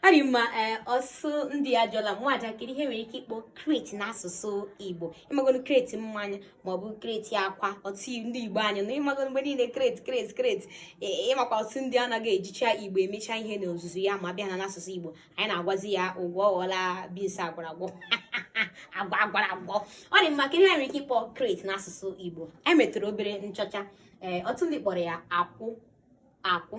ọ dị mma eh, ọtụtụ ndị ajụọla m ajụjụ kedu ihe e nwere ike ịkpọ kreti n'asụsụ igbo ị magonu kreti mmanya maọbụ kreti akwa ọtụtụ ndị igbo anyị na ị magonu mgbe niile kreti kreti kreti ị makwa ọtụtụ ndị anaghị ejicha igbo emecha ihe n'ozuzu ya ma bịa na n'asụsụ igbo anyị na-agwazi ya agwa ọ ghọla beans agwara agwa agwa agwara agwa ọ dị mma kedu ihe e nwere ike ịkpọ kreti n'asụsụ igbo emetụrụ obere nchọcha ee eh, ọtụtụ ndị kpọrọ ya akwụ akwụ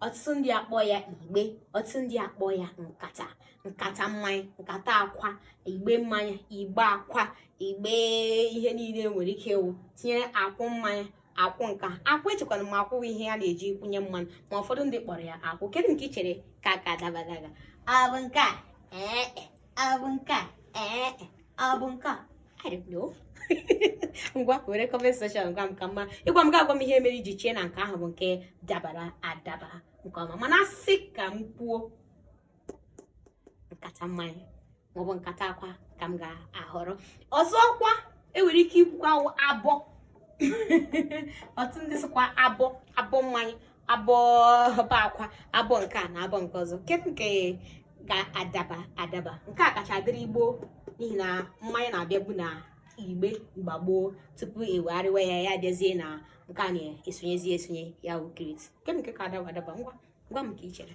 ọtụtụ ndị akpọọ ya igbe ọtụtụ ndị akpọọ ya nkata nkata mmanya nkata akwa igbe mmanya igbe akwa igbe ihe niile e nwere ike ịwụ tinyere akwụ mmanya akwụ nke a akwụ echekwana ma akwụ ihe a na-eji kwụnye mmanụ ma ụfọdụ ndị kpọrọ ya akwụ kedu nke ị chere ka ka adaba adaba ọ bụ nke a ee e. ọ bụ nke a ee ọ bụ nke a I don't know. ngwa were comment section gwa m ka m ma ị gwa m ị ga-agwa m ihe mere i ji chee na nke ahụ bụ nke dabara adaba nke ọma mana a sị ka m kwuo nkata mmanya maọbụ nkata akwa ka m ga-ahọrọ ọzọkwa enwere ike ikwukwa abọ ọtụtụ ndị sịkwa abọ abọ mmanya abọ akwa abọ nke a na abọ nke ọzọ kedu nke ga-adaba adaba nke a kacha dịrị igbo n'ihi na mmanya na-abịabu na igbe mgbe gboo tupu ewegharịwa ya ya bịazie na nke a na-esonyezi esonye ya wụ kreti kedu nke ka adaba adaba ngwa gwa m ka i chere